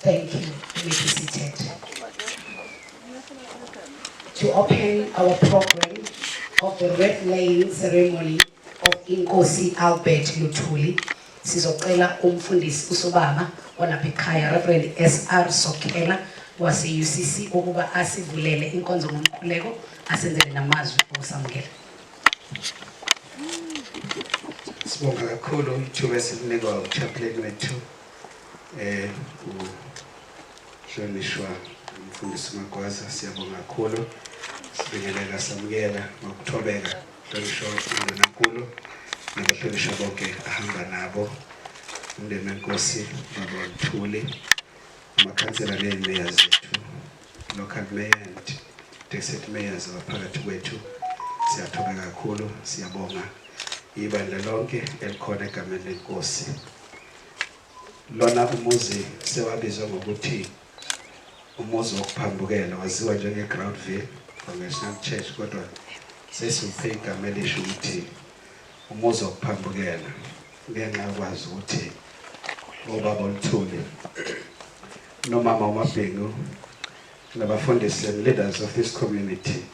Thank you, Committee Sithethe. To open our program of the red laying ceremony of Inkosi Albert Luthuli, sizocela umfundisi usobaba olapha ekhaya Reverend SR Sokhela wase-UCC ukuba asivulele inkonzo ngomkhuleko asenzele namazwi okusamukela. Sibonga kakhulu ithuba esilinikwa uchaplain wethu eh uhlonishwa umfundisi Magwaza siyabonga kakhulu sibingelela samukela ngokuthobeka hlonishwa umndeni kakhulu nabahlonishwa bonke ahamba nabo umndeni wenkosi baba Mthuli amakhansela nezimeya zethu local mayor and district mayors abaphakathi kwethu siyathobeka kakhulu siyabonga ibandla lonke elikhona egameni lenkosi Lona umuzi sewabizwa ngokuthi umuzi wokuphambukela waziwa njengeGroundville Congregational Church kodwa sesiwuphe igama elisho ukuthi umuzi wokuphambukela ngenxa yokwazi ukuthi obaba uLuthuli nomama uMabhengu nabafundisi and leaders of this community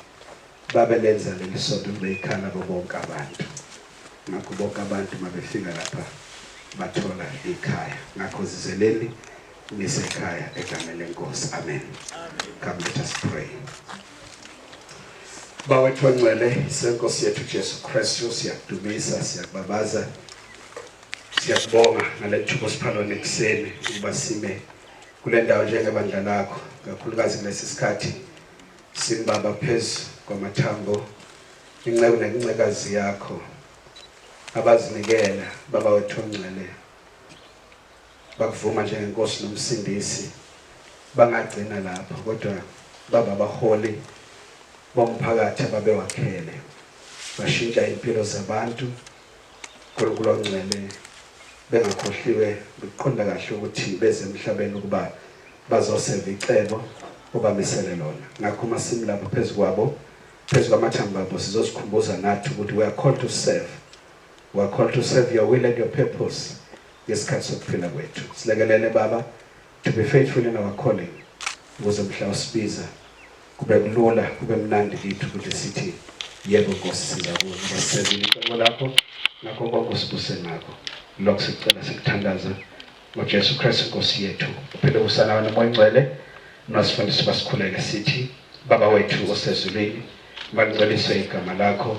Babe lenza leli sonto libe yikhala kubo bonke abantu. Ngakho bonke abantu uma befika lapha bathola ikhaya. Ngakho zizeleni nisekhaya egameni leNkosi. Amen. Come let us pray. Bawethu ongcwele, seNkosi yethu Jesu Kristu, siyakudumisa, siyakubabaza, siyakubonga ngale thuba osipha lona ekuseni ukuba sime kule ndawo njengebandla lakho, kakhulukazi kulesi sikhathi Simbaba phezu kwamathambo inceku nencekazi yakho abazinikela baba wethu ongcwele bakuvuma njengenkosi nomsindisi bangagcina lapho kodwa baba abaholi bomphakathi ababewakhele bashintsha impilo zabantu Nkulunkulu ongcwele, bengakhohliwe nokuqonda kahle ukuthi beze emhlabeni ukuba bazoseva icebo obamisele lona. Ngakho uma simi lapha phezu kwabo, phezu kwamathambo abo, sizozikhumbuza nathi ukuthi we are called to serve. We are called to serve your will and your purpose ngesikhathi sokuphila kwethu. Silekelele Baba, to be faithful in our calling ukuze mhla usibiza kube kulula kube mnandi kithi ukuthi sithi yebo Nkosi sizakuza basebenzisa icebo lakho nakho konke usibuse ngakho lokho sicela sikuthandaza ngoJesu Kristu Nkosi yethu uphele usana wena moyingcwele nosifundisi basikhuleke sithi baba wethu osezulwini malingcweliswe igama lakho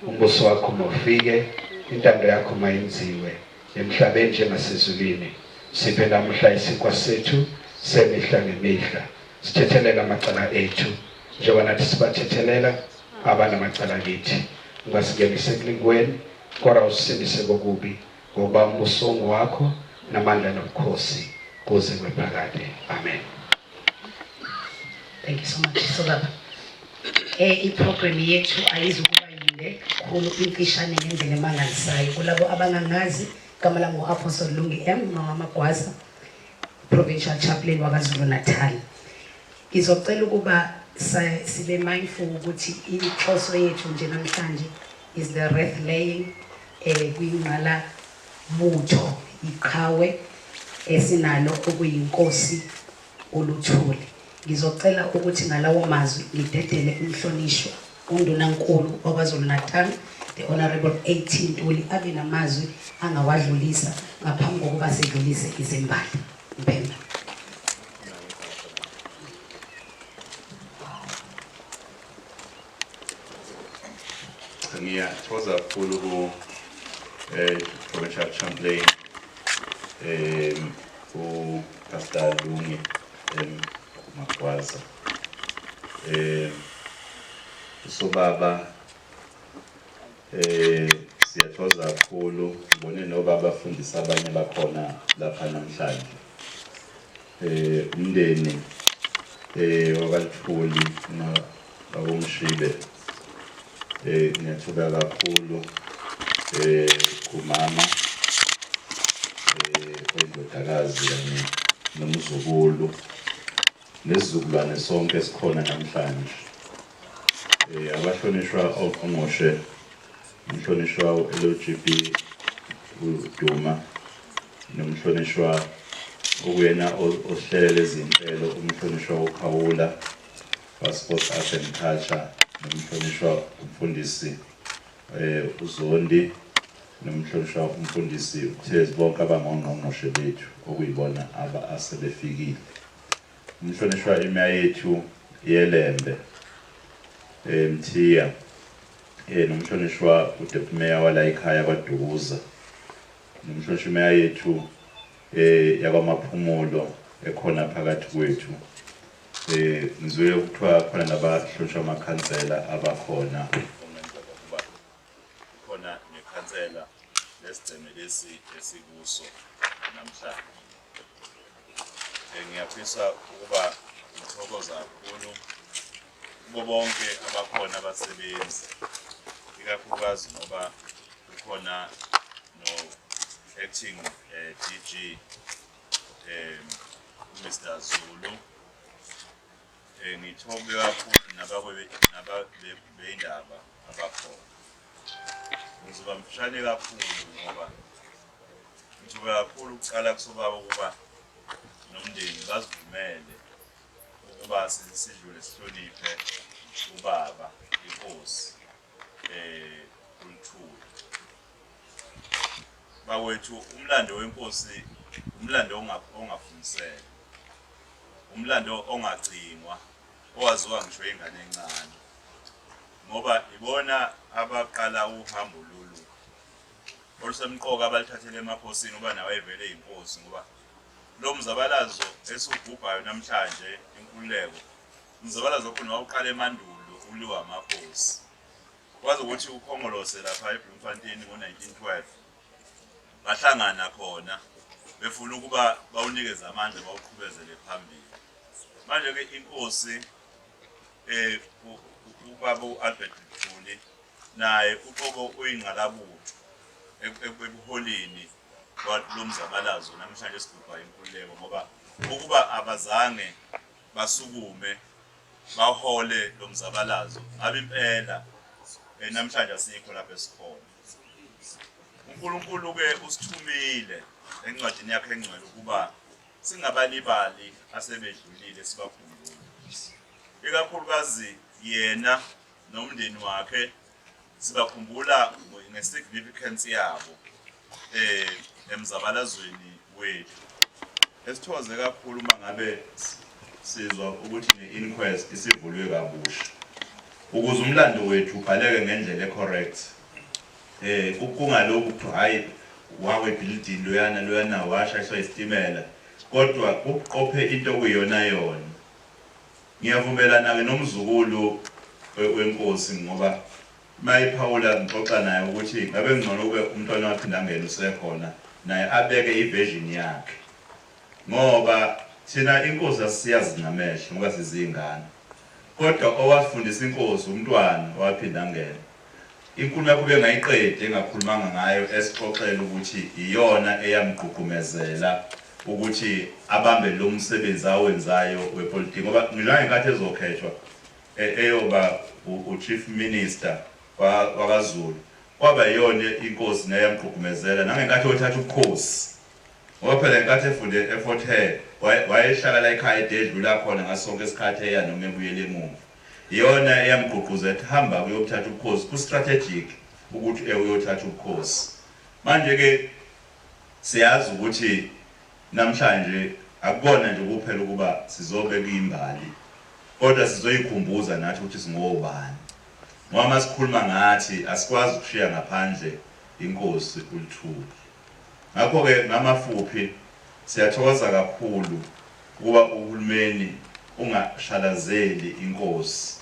umbuso wakho mawufike intando yakho mayenziwe Emhlabeni njengasezulwini, siphe namuhla isinkwa sethu semihla ngemihla. Sithethelela amacala ethu, njengoba nathi sibathethelela abanamacala kithi. Ungasingenisi ekulingweni, kodwa usisindise kokubi, ngokuba umbuso ungowakho, namandla nobukhosi, kuze kube phakade. Amen. Thank you so much. So baba. Eh iprogram yethu ayizukuba yinde khulu imfishane ngendlela emangalisayo kulabo abangangazi igama lami ngu-apostle lungi m mama magwaza provincial chaplain wakazulu natal ngizocela ukuba sibe mindful ukuthi inhloso yethu nje namhlanje is the wreath laying um kwingqala Butho iqhawe esinalo okuyiNkosi uLuthuli. Ngizocela ukuthi ngalawo mazwi ngidedele uMhlonishwa uNdunankulu waKwaZulu-Natal the Honourable AT Ntuli abe namazwi angawadlulisa ngaphambi kokuba sidlulise izimbali. Mpemba. Ngiyathokoza kakhulu ku eh Provincial Champlain eh ku Pastor Lungi em Magwaza eh usobaba eh siyathokoza kakhulu ngibone nobaba afundisa abanye bakhona lapha namhlanje eh umndeni eh wabalitholi na bakomshibe eh ngiyathola kakhulu eh kumama eh kwendodakazi yami nomzukulu nesizukulwane sonke sikhona namhlanje eh abahlonishwa ongqongqoshe umhlonishwa u-LGB uDuma nomhlonishwa okuyena osihlele lezinhlelo umhlonishwa wokhawula waSports Arts and Culture nomhlonishwa umfundisi eh uZondi nomhlonishwa umfundisi uThezi bonke abangongqongqoshe bethu okuyibona aba asebefikile umhlonishwa imya yethu yelembe eh mthiya eh nomhlonishwa uDept Mayor wala ekhaya kwaDukuza Ngumshoshimeya yethu e, yakwamaphumulo ekhona phakathi kwethu e, ngizwile kuthiwa khona nabahlonishwa amakhansela abakhona khona nekhansela lesigceme lesi esikuso namhlanje Eh, ngiyafisa ukuba ngithokoza kakhulu kubo bonke abakhona abasebenzi ikakhulukazi ngoba kukhona no-acting um eh, d g um eh, mr zulu um ngithobe kakhulu nababeyindaba abakhona Ngizoba mfishane kakhulu ngoba ngithuka kakhulu ukuqala kusobaba ukuba nomndeni bazivumele ukuba sidlule sihloniphe ubaba inkosi eh uLithuli bakwethu umlando wenkosi umlando ongafundiseka umlando ongacingwa owaziwa ngisho ingane encane ngoba ibona abaqala uhambo lolu olusemqoka abalithathele emakhosini uba nawo evele yinkosi ngoba lo mzabalazo esiwugubhayo namhlanje inkululeko umzabalazo okhona wawuqala emandulo uliwa amakhosi kwazi ukuthi ukhongolose lapha ebloemfontein ngo-1912 bahlangana khona befuna ukuba bawunikeze amandla bawuqhubezele phambili manje-ke inkosi Eh, ubaba u-Albert Mthuli naye uqobo uyingqalabutho ekuholeni lo mzabalazo namhlanje esigubha inkululeko ngoba ukuba abazange basukume bahole lo mzabalazo ngabe impela eh, namhlanje asikho lapho esikhona uNkulunkulu-ke usithumile encwadini yakhe engcwele ukuba Singabalibali asebedlulile sibakhumbule, ikakhulukazi yena nomndeni wakhe sibakhumbula ngesignificance yabo eh emzabalazweni wethu. Esithokoze kakhulu uma ngabe sizwa ukuthi ne-inquest isivulwe kabusha ukuze umlando wethu ubhaleke ngendlela ecorrect. Eh kungalokhu kuthiwa hhayi wawa ebhilidini loyana loyana washayiswa yisitimela kodwa kuqophe into okuyiyonayona. Ngiyavumelana-ke nomzukulu wenkosi ngoba uma ephawula ngixoxa naye ukuthi ngabe kungcono ukube uMntwana waPhindangene usekhona naye abeke i-version yakhe ngoba thina inkosi asiyazi ngamehlo ngoba siziyingane kodwa owafundisa inkosi uMntwana waPhindangene Inkulumo yakho ubengayiqedi engakhulumanga ngayo esixoxela ukuthi iyona eyamgqugqumezela ukuthi abambe lomsebenzi awenzayo wepolitiki ngoba ngisho nangenkathi ezokhethwa eyoba u Chief Minister wakwaZulu kwaba iyona inkosi nayo eyamgqugqumezela nangenkathi eyothatha ubukhosi ngoba phela ngenkathi efunde eFort Hare wayehlala la ekhaya ededlula khona ngaso sonke isikhathi eya noma ebuyela emumva. Iyona eyamgqugquza ethi hamba uyothatha ubukhosi ku strategic ukuthi e uyothatha ubukhosi. Manje ke siyazi ukuthi namhlanje akubona nje kuphela ukuba sizobe kuyimbali kodwa sizoyikhumbuza nathi ukuthi singobani. Ngoba masikhuluma ngathi asikwazi ukushiya ngaphandle inkosi uLithuba. Ngakho ke ngamafuphi siyathokoza kakhulu Ukuba uhulumeni ungashalazeli inkosi.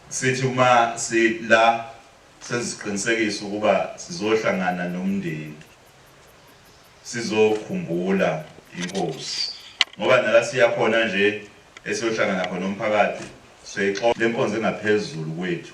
Sithi uma si la senza isiqinisekiso ukuba sizohlangana nomndeni sizokhumbula inkosi ngoba nala siya khona nje esiyohlangana khona nomphakathi siyayixola le nkonzo engaphezulu kwethu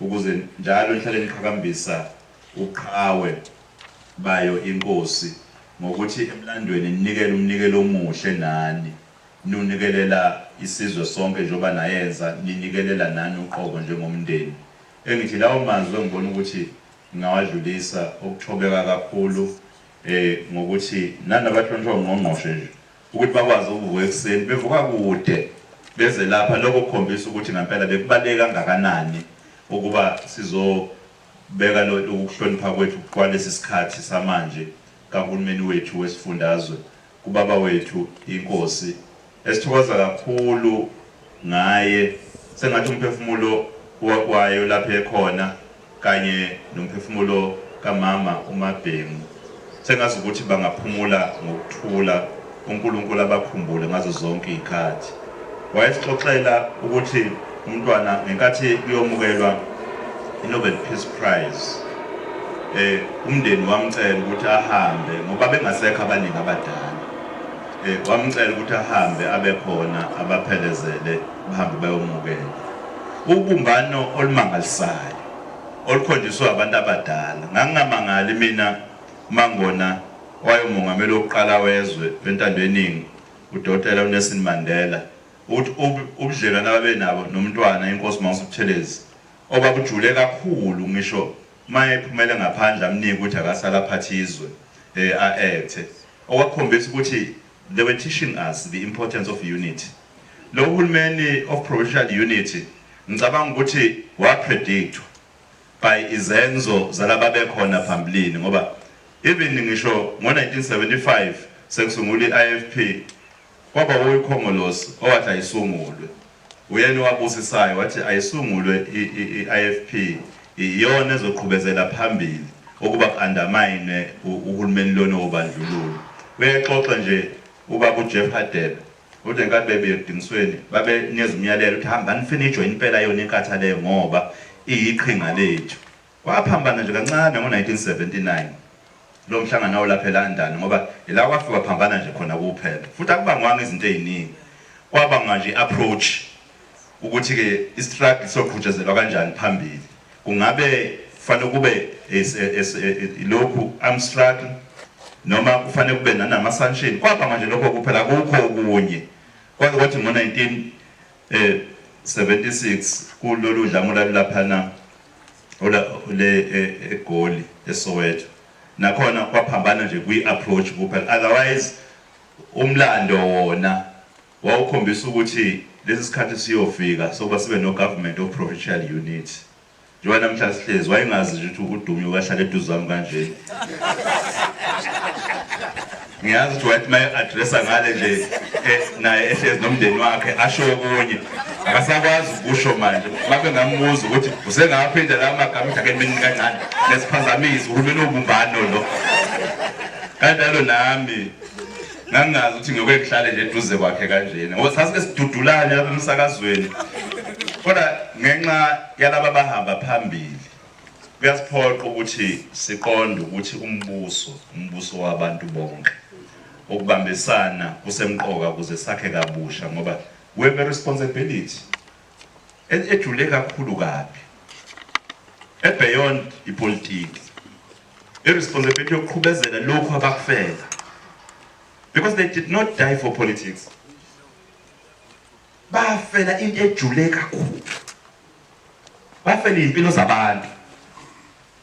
Ukuze njalo nihlale niqhakambisa ubuqhawe bayo iNkosi ngokuthi emlandweni ninikele umnikelo omuhle nani niwunikelela isizwe sonke njengoba nayenza ninikelela nani uqobo njengomndeni. Engithi lawo mazwi engibona ukuthi ngingawadlulisa okuthobeka kakhulu ngokuthi nani abahlonishwa uNgqongqoshe nje Ukuthi bakwazi ukuvuka ekuseni bevuka kude beze lapha, lokho kukhombisa ukuthi ngampela bekubaluleke kangakanani ukuba sizobeka ukuhlonipha kwethu kwalesi sikhathi samanje kaHulumeni wethu wesifundazwe, kuBaba wethu iNkosi esithokoza kakhulu. ngaye sengathi umphefumulo wakwayo lapho ekhona kanye nomphefumulo kamama uMabhemu sengazi ukuthi bangaphumula ngokuthula uNkulunkulu abakhumbule ngazo zonke izikhathi wayesixoxela ukuthi umntwana ngenkathi kuyomukelwa iNobel Peace Prize eh umndeni wamcela ukuthi ahambe ngoba bengasekho abaningi abadala Wamcela ukuthi ahambe abe khona abaphelezele bahambe bayomukela. Ubumbano olumangalisayo olukhonjiswe abantu abadala. Ngangingamangali mina mangona owayomongameli wokuqala wezwe wentando yeningi udokotela uNelson Mandela ukuthi ubudlelwane ababenabo noMntwana iNkosi Mangosuthelezi obabujule kakhulu ngisho Uma ephumele ngaphandle amnike ukuthi akasale aphathe izwe, eh, a acte. Okwakukhombisa ukuthi they were teaching us the importance of unity. Lo hulumeni of provincial unity ngicabanga ukuthi wa predictwa by izenzo zalaba bekhona phambilini ngoba even ngisho ngo 1975 sekusungula iIFP Kwaba wuye uKhongolose owathi ayisungulwe. Uyena owabusisayo wathi ayisungulwe i-IFP iyona ezoqhubezela phambili ukuba ku-andamayinwe uhulumeni lona wobandlululo. Uyayixoxa nje ubaba uJeff Hadebe uthi ngenkathi bebuya ekudingisweni babenikeza umyalelo ukuthi hambani nifike niyijoyine impela yona iNkatha leyo ngoba iyiqhinga lethu. Kwaphambana nje kancane ngo-1979 lo mhlangano awulapha eLondon ngoba ila kwafikwa phambana nje khona kuphela futhi akubangwanga izinto eziningi kwabangwa nje i-approach ukuthi-ke i-struggle soqhutshezelwa kanjani phambili kungabe kufanele kube lokhu arm struggle noma kufanele kube nanama-sanction kwabangwa nje lokho kuphela kukho okunye kwaze kwathi ngo-19 E-76 kulolu dlame olwalulaphana le eGoli eSoweto nakhona kwaphambana nje kwi-approach kuphela otherwise umlando wona wawukhombisa ukuthi lesi sikhathi siyofika sokuba sibe no-government of provincial unit Njengoba namhla sihlezi wayengazi nje ukuthi uDumi ukahlala eduze kwami kanjena. Ngiyazi ukuthi wayethi maye addressa ngale nje eh, naye ehlezi nomndeni wakhe asho okunye. Akasakwazi ukusho manje. Babe ngambuza ukuthi usengaphinda la magama ukuthi akenimini kancane nesiphazamisi uhulumeni ubumbano lo. Kanjalo nami ngangingazi ukuthi ngiyoke ngihlale nje eduze kwakhe kanjena ngoba sasike sidudulane lapha emsakazweni kodwa ngenxa yalaba bahamba phambili kuyasiphoqa ukuthi siqonde ukuthi umbuso umbuso wabantu bonke ukubambisana kusemqoka ukuze sakhe kabusha ngoba we have a responsibility ejule kakhulu kabi ebeyond ipolitiki I responsibility yokuqhubezela lokhu abakufela. Because they did not die for politics. Bafela into ejule kakhulu. Bafela impilo zabantu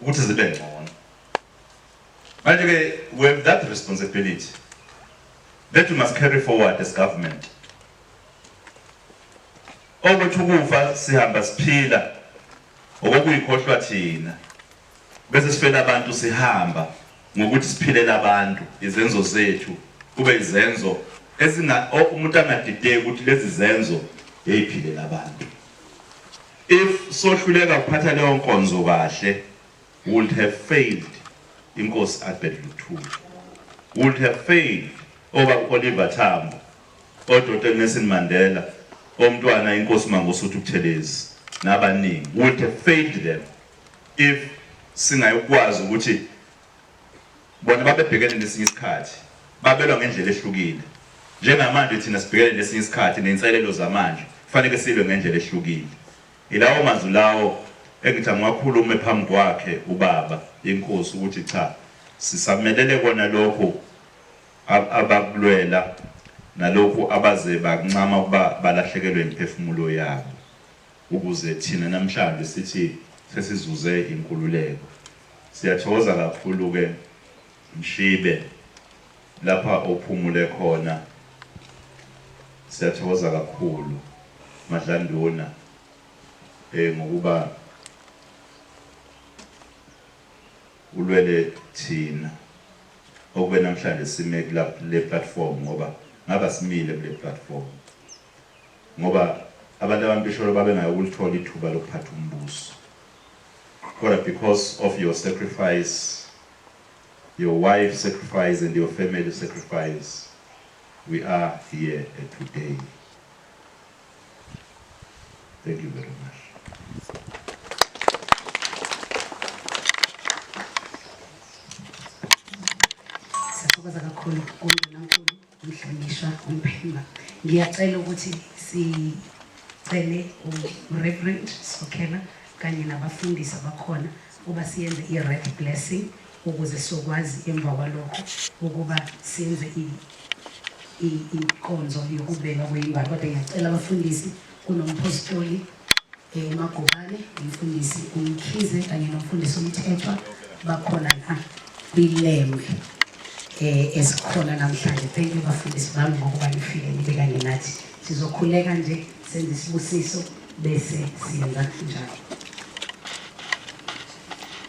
ukuthi zibe ngcono. Manje ke we have that responsibility that we must carry forward as government. Okuthi ukufa sihamba siphila okuyikhohlwa thina. Bese sifela abantu sihamba ngokuthi siphilela abantu izenzo zethu kube izenzo ezinga umuntu angadideki ukuthi lezi zenzo yeyiphilela abantu if sohluleka ukuphatha leyo nkonzo kahle would have failed inkosi Albert Luthuli would have failed oba Oliver Tambo odota Nelson Mandela omntwana inkosi Mangosuthu Buthelezi nabaningi would have failed them If singayokwazi ukuthi bona babebhekene nesinye isikhathi babelwa ngendlela ehlukile njengamanje thina sibhekene nesinye isikhathi nenselelo zamanje kufanele silwe ngendlela ehlukile ilawo mazwi lawo engithi angiwakhulume phambi kwakhe ubaba inkosi ukuthi cha sisamelele kona lokhu abakulwela nalokhu abaze bakuncama ukuba balahlekelwe imiphefumulo yabo Ukuze thina namhlanje sithi sesizuze inkululeko. Siyathokoza kakhulu ke Mshibe lapha ophumule khona siyathokoza kakhulu Madlanduna eh ngokuba ulwele thina okube namhlanje sime kula kule platform ngoba ngaba simile kule platform. ngoba abantu abampisholo babengayi ukulithola ithuba lokuphatha umbuso kodwa because of your sacrifice your wife sacrifice and your family sacrifice we are here at today thank you very much Siyathokoza kakhulu kumbe nankulu Mhlonishwa uMphemba, ngiyacela ukuthi sicele uReverend Sokhela kanye nabafundisi abakhona uba siyenze i-red blessing ukuze sokwazi emva kwalokho ukuba senze inkonzo yokubeka kweyingane kodwa ngiyacela abafundisi kunomphostoli eh, uMagubane umfundisi uMkhize kanye nomfundisi uMthethwa bakhona la kwilembe eh esikhona namhlanje thank you bafundisi bami ngokuba nifike nibe kanye nathi sizokhuleka nje senze isibusiso bese siyenza njalo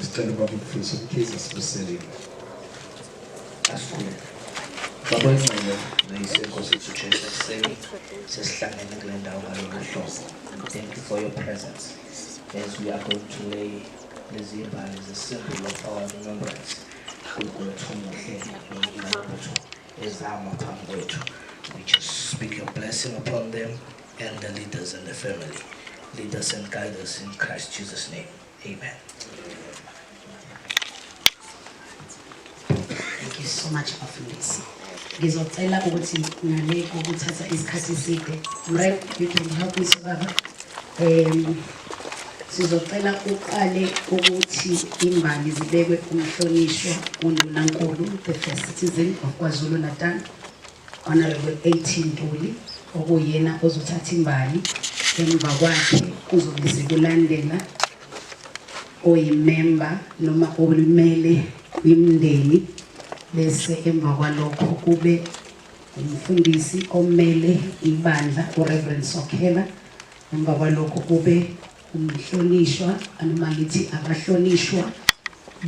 Sicela ubaba uMfundisi uMkhize asibuseleni. Asikhuleke. Baba ingcele nayise Nkosi yethu Jesu ekuseni sesihlangene kule ndawo ngalolu hlobo. Thank you for your presence as we are going to lay lezi mbali zesimple of our remembrance uNkulunkulu umuhle noNkulunkulu wethu ezama phambi kwethu. We just speak your blessing upon them and the leaders and the family. Lead us and guide us in Christ Jesus' name. Amen. Thank you so much bafundisi. Ngizocela ukuthi ngale kokuthatha isikhathi eside. Mrep, you can help me sobaba. Um, sizocela uqale ukuthi imbali zibekwe umhlonishwa uNdunankulu the first citizen of KwaZulu Natal Honorable AT Ntuli okuyena ozothatha imbali emva kwakhe kuzobe sekulandela oyimemba noma olimele kwimndeni bese emva kwalokho kube umfundisi omele ibandla uReverend Sokhela emva kwalokho kube umhlonishwa noma ngithi abahlonishwa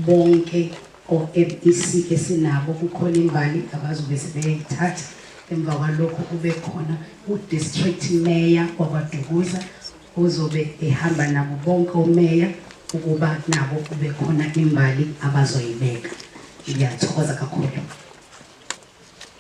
bonke OMEC esinabo kukhona imbali abazobe sebeyayithatha emva kwalokho kube khona udistrict mayor wakwadukuza ozobe ehamba nabo bonke omeya ukuba nabo kube khona imbali abazoyibeka ngiyathokoza kakhulu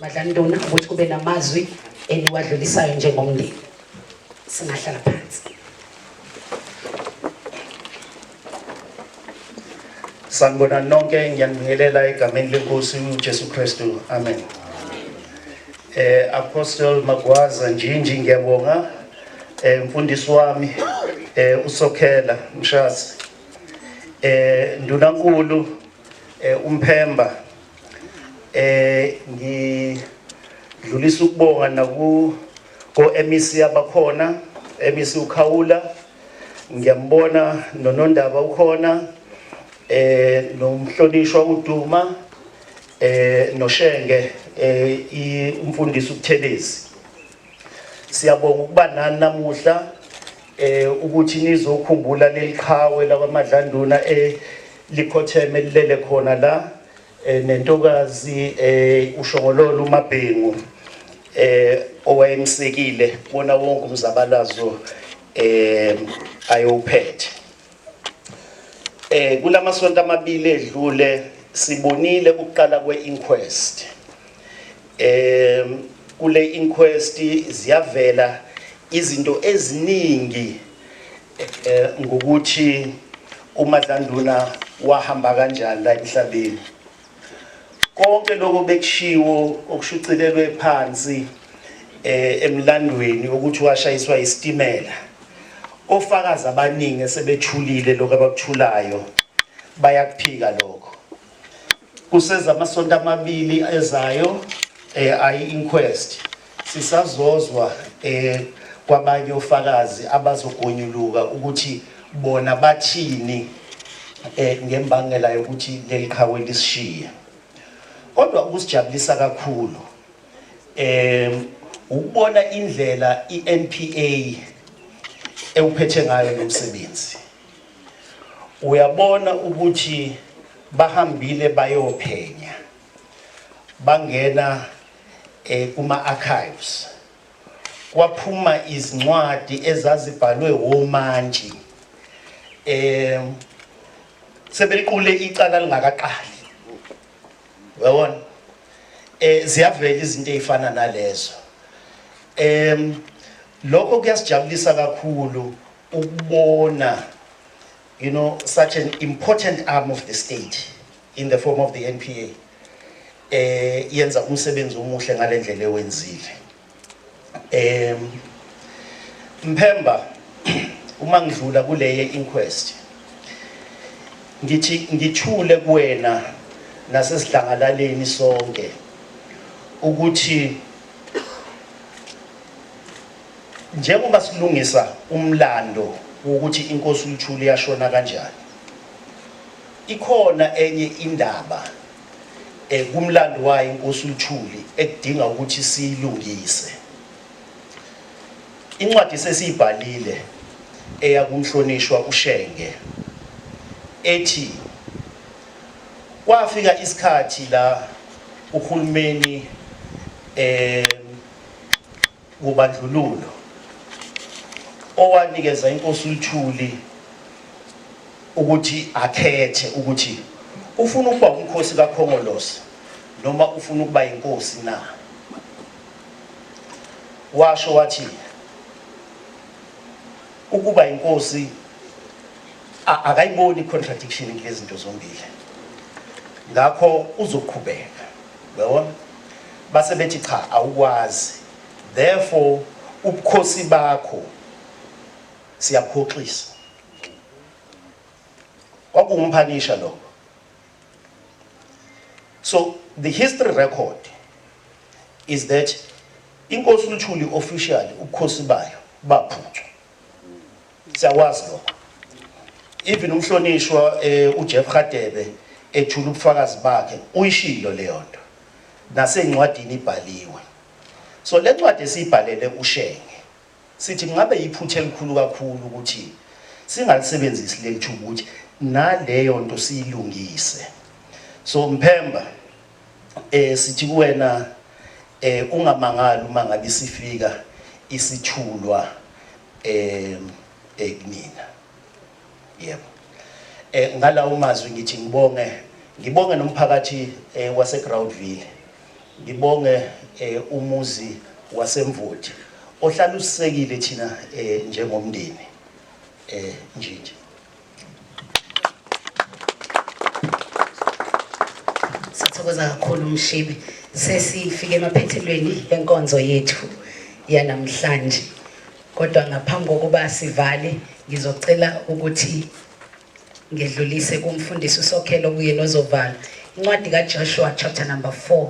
Badlanduna ukuthi kube namazwi eniwadlulisayo njengomndeni singahlala phansi sanibona nonke ngiyanibingelela egameni lenkosi ujesu kristu amen eh apostle magwaza njinji ngiyabonga eh mfundisi wami eh usokhela mshasi eh ndunankulu eh umphemba eh ngidlulisa ukubonga naku ko MEC abakhona MEC ukhawula ngiyambona nonondaba ukhona eh nomhlonishwa uduma eh noshenge eh umfundisi ubuthelezi Siyabonga ukuba nani namuhla eh ukuthi nizokhumbula leliqhawe lakwaMadlanduna eh likhotheme lilele khona la eh, nentokazi eh ushongololo uMabhengu eh owayemsekile bona wonke umzabalazo eh ayophethe Eh kulamasonto amabili edlule sibonile ukuqala kwe-inquest eh kule inquest ziyavela izinto eziningi eh ngokuthi uMadlanduna wahamba kanjani la emhlabeni Konke lokho bekushiwo okushucilelwe phansi eh emlandweni ukuthi washayiswa isitimela. Ofakazi abaningi esebethulile lokho abakuthulayo bayakuphika lokho. Kuseza amasonto amabili ezayo eh ayi inquest Sisazozwa eh kwabanye ofakazi abazogonyuluka ukuthi bona bathini eh ngembangela yokuthi leliqhawe lisishiye. Kodwa ukusijabulisa kakhulu eh ukubona indlela iNPA ewuphethe ngayo lo msebenzi uyabona ukuthi bahambile bayophenya bangena e, kuma-archives kwaphuma izincwadi ezazibhalwe womantshi um sebeliqule icala lingakaqali yabona eh ziyavela izinto ezifana nalezo em lokho kuyasijabulisa kakhulu ukubona you know such an important arm of the state in the form of the NPA eh yenza umsebenzi omuhle ngalendlela ewenzile em Mphemba uma ngidlula kuleye inquest ngithi ngithule kuwena nasesidlangalaleni sonke ukuthi njengoba silungisa umlando ukuthi inkosi uLuthuli yashona kanjani Ikhona enye indaba eh, kumlando wayo inkosi uLuthuli ekudinga ukuthi siyilungise. Incwadi sesiyibhalile eya kumhlonishwa uShenge ethi kwafika isikhathi la uhulumeni eh wobandlululo owanikeza inkosi uLuthuli ukuthi akhethe ukuthi ufuna ukuba umkhosi kaKhongolose noma ufuna ukuba inkosi na washo wathi ukuba inkosi akayiboni contradiction ngezinto zombili ngakho uzoqhubeka Uyabona? Base bethi cha awukwazi. Therefore ubukhosi bakho siyabukhoxisa. Kwakuwumphanisha lo. So the history record is that inkosi uLuthuli officially ubukhosi bayo baphuthwa. Siyakwazi lokho. Even umhlonishwa eh, uJeff Hadebe ethula ubufakazi bakhe uyishilo leyo nto. Nasencwadini ibhaliwe. So le ncwadi esiyibhalele uShenge sithi kungabe yiphutha elikhulu kakhulu ukuthi singalisebenzisi leli thuba ukuthi naleyo nto siyilungise. So Mphemba Eh sithi kuwena eh ungamangali uma ngabe sifika isithulwa eh eknina. Yebo. Eh ngalawo mazwi ngithi ngibonge ngibonge nomphakathi eh, wase Groundville. Ngibonge eh, umuzi wasemvoti ohlalusisekile thina eh njengomndeni eh nje nje. Sithokoza kakhulu Mshibi. Sesifike emaphethelweni enkonzo yethu yanamhlanje. Kodwa ngaphambi kokuba sivale ngizocela ukuthi ngedlulise kumfundisi uSokhelo kuye nozovala. Incwadi kaJoshua chapter number 4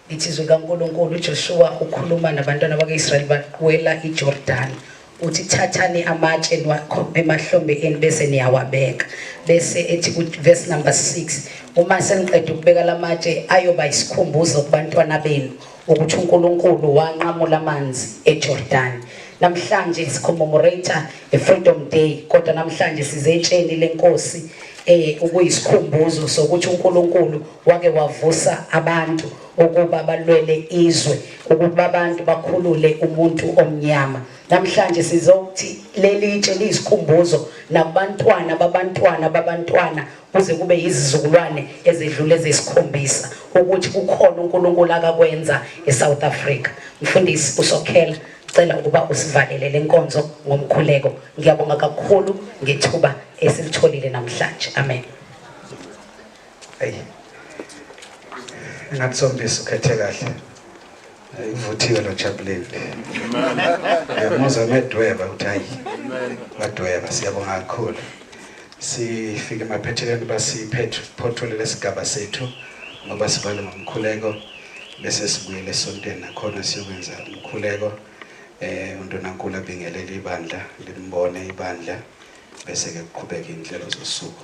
Lithi izwi likaNkulunkulu, uJoshuwa ukhuluma nabantwana bakwa-Israyeli baqwela iJordani. Uthi thathani amatshe niwakhombe emahlombe enu bese niyawabeka. Bese ethi verse number 6, uma seniqeda ukubeka la matshe ayoba isikhumbuzo kubantwana benu ukuthi uNkulunkulu wanqamula amanzi eJordani. Namhlanje sicommemorate i-Freedom Day kodwa namhlanje sizetsheni lenkosi eh ukuyisikhumbuzo sokuthi uNkulunkulu Wake wavusa abantu ukuba balwele izwe ukuba abantu bakhulule umuntu omnyama namhlanje sizokuthi lelitshe liyisikhumbuzo nakubantwana babantwana babantwana kuze kube yizizukulwane ezedlule zesikhombisa ukuthi kukhona uNkulunkulu akakwenza eSouth Africa mfundisi usokhela cela ukuba usivalele lenkonzo ngomkhuleko ngiyabonga kakhulu ngethuba esilitholile namhlanje amen Hey. Engathi sombisi ukhethe kahle. Ivuthiwe lo Jabulile. Amen. Muze medweba uthi hayi. Amen. Wadweba siyabonga kakhulu. Sifike emaphethelweni basiphethe photole lesigaba sethu ngoba sivale ngomkhuleko bese sibuyele esontweni nakhona siyokwenza umkhuleko eh uNtonankulu abingelele ibandla limbone ibandla bese ke kuqhubeka inhlelo zosuku